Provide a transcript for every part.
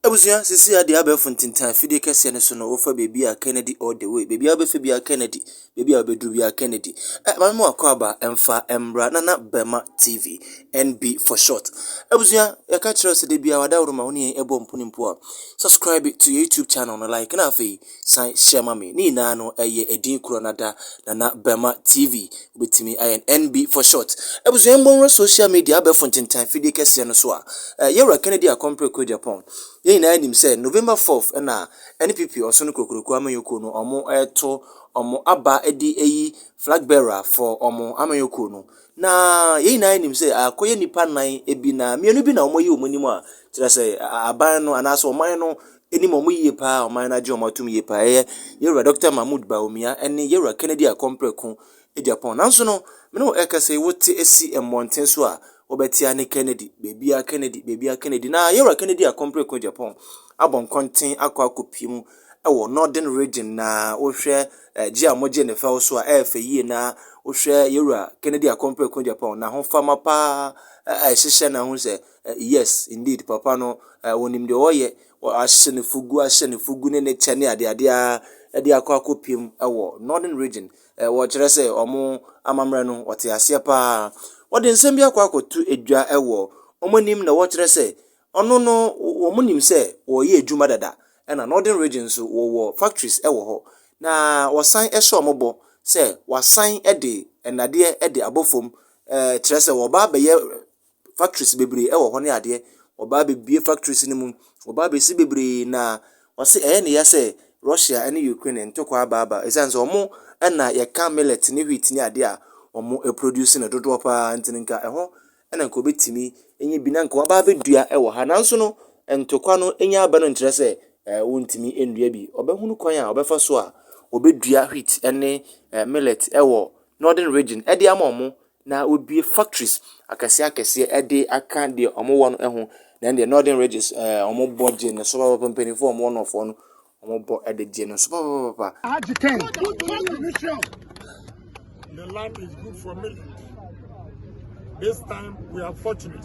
Abusua, sisi ha deɛ abɛɛfo ntintan afidie kɛseɛ no so no wofa baabi a Kennedy all the way. Baabi a wobɛfa biara Kennedy. Baabi a wobɛduru biara Kennedy. Eh, maame mu akɔ aba mfa mbra Nana Bɛma TV, NB for short. Abusua, yɛka kyerɛ wo sɛ da biara wada wo ma wo ne yɛn ɛbɔ mpo ne mpo a, subscribe to your YouTube channel no, like na afei. san hyɛ ma me. Ne nyinaa no, ɛyɛ edin korɔ no ada, Nana Bɛma TV. Wobɛtumi ayɛ no NB for short. Abusua yɛn mmɔ nwura social media, abɛɛfo ntentan fidie kɛseɛ no so a. Eh, Yɛwura Kennedy Akompre Kogyapong. Yɛn nyinaa nim sɛ November fourth na NPP Ɔsono Kokroko Amanyɔkuo no wɔn reto wɔn aba de ayi flag bearer for wɔn amanyɔkuo no. Na yɛn nyinaa nim sɛ akɔyɛ nnipa nan bi na mmienu bi na wɔayi wɔn anim a, kyerɛ sɛ aban no anaasɛ ɔman no nim wɔn yie paa a wɔn ayɛ no agye wɔn atom yie paa ɛyɛ yɛwura Dɔkta Mahmood Bawumia ne yɛwura Kennedy Akompreko Agyapong nanso no me ne wo ɛkasa yi wote asi mmɔnten so a wɔbɛtea ne Kennedy beebia Kennedy beebia Kennedy na yɛwura Kennedy Akompreko Agyapong abɔ nkɔnten akɔ akɔpie mu ɛwɔ Northern Region na wohwɛ ɛgye a wɔgye ne fɛw so a ɛyɛ fɛ yie na wohwɛ yɛwura Kennedy Akompreko Agyapong na ho fama paa ɛhyehyɛ na ho sɛ Eh, yes, indeed, papa no, eh, wɔnim deɛ wɔyɛ, wɔahyɛ no fugu, ahyɛ no fugu ne ne kyɛ ne adeade a de akɔ akɔpiem wɔ Northern Region. Eh, wɔkyerɛ sɛ wɔn amammerɛ no, wɔte aseɛ paa. Wɔde nsɛm bi akɔ akɔto adwa wɔ wɔn anim na wɔkyerɛ sɛ ɔno no, wɔn nim sɛ wɔyɛ adwuma dada, ɛna Northern Region nso wɔwɔ factories wɔ hɔ, na wɔsan hyɛ wɔn bɔ sɛ wɔasan de nnadeɛ de abɔ fam, eh, kyerɛ sɛ wɔba abɛyɛ factories bebree ɛwɔ hɔ ne adeɛ. Wɔba abɛbue factories no mu, wɔba abɛsi bebree na wɔse ɛyɛ ne ya sɛ Russia ne Ukraine ntɔkwa aba aba ɛsiane sɛ wɔn na yɛka millet ne wheat ne adeɛ a wɔproduce no dodoɔ pa ara nti no nka ɛhɔ na nka wɔbɛtumi anya bi na nka wɔaba abɛdua wɔ ha nanso no ntɔkwa no nya aba no nkyerɛ sɛ eh, wɔntumi nnua bi. Wɔbɛhunu kwan a wɔbɛfa so a wɔbɛdua wheat ne eh, millet wɔ northern region ɛde ama wɔn Na wɔbue factories akɛseɛ akɛseɛ de aka deɛ wɔwɔ no ho. Na ɛndeɛ Northern Ridges eh, wɔbɔ gye no so papapapa mpanimfoɔ wɔwɔ nɔfoɔ no wɔbɔ de gye no so papapapa. Agye kɛn. The land is good for me. This time we are fortunate.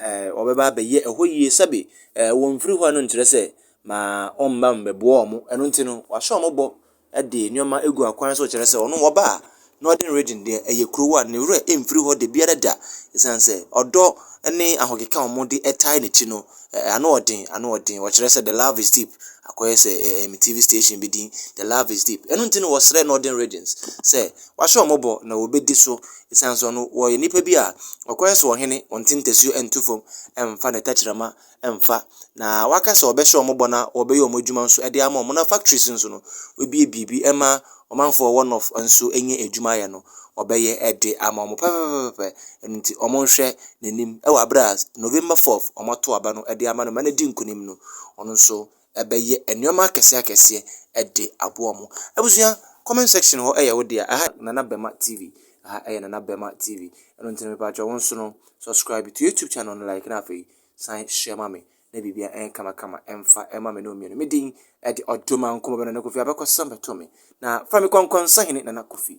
Ɛɛ, wɔbɛba abɛyɛ ɛhɔ yie sɛbe. Ɛɛ, wɔmfiri hɔ no nkyerɛ sɛ ma ɔmma mmɛboa wɔn. Ɛno nti no, wahyɛ wɔn bɔ de nneɛma agu akwan so kyerɛ sɛ ɔno ɔba a Northern Region deɛ ɛyɛ kuro a ne werɛ mfiri hɔ da biara da. Ɛsiane sɛ ɔdɔ ne ahokeka a wɔde tae n'akyi no, ɛɛ, ano yɛ den, ano yɛ den. Wɔkyerɛ sɛ the love is deep. Akɔyɛ sɛ ɛɛ, me TV station bi din, The Love is Deep. Ɛno nti no, wɔsrɛ Northern Regions sɛ wɔahyɛ wɔn bɔ na wɔbɛdi so Esiane sɛ ɔno wɔyɛ nipa bi a ɔkwan so ɔhene, ɔnte ntasuo nto fam mfa ne tɛkyerɛma mfa, na waka sɛ ɔbɛhyɛ wɔn bɔ na wɔbɛyɛ wɔn adwuma nso de ama wɔn, na factories nso no, wabue biribi ma ɔmanfoɔ a wɔwɔ North nso anya adwuma ayɛ no, ɔbɛyɛ de ama wɔn pɛpɛpɛpɛpɛ. Ɛno nti, wɔnhwɛ n'anim wɔ berɛ a November 4th wɔato aba no de ama no ma no adi nkunim no, ɔno nso ɛbɛyɛ nnoɔma akɛseɛ akɛseɛ de aboa wɔn. Abusua, comment section hɔ yɛ wo dea. Ɛha Nana Bɛma TV. Ɛha yɛ Nana Bɛma TV. Ɛno nti no mepakyɛ wo nso no, subscribe to YouTube channel no, like na afei san share ma me na biribia ɛn kama kama ɛmfa ɛma me ne wo mmienu. Me din ɛde Ɔdomankoma Bɛnana Kofi Abɛkɔsɛm bɛto me. Na fra me Kɔnkɔn Sahene Nana Kofi.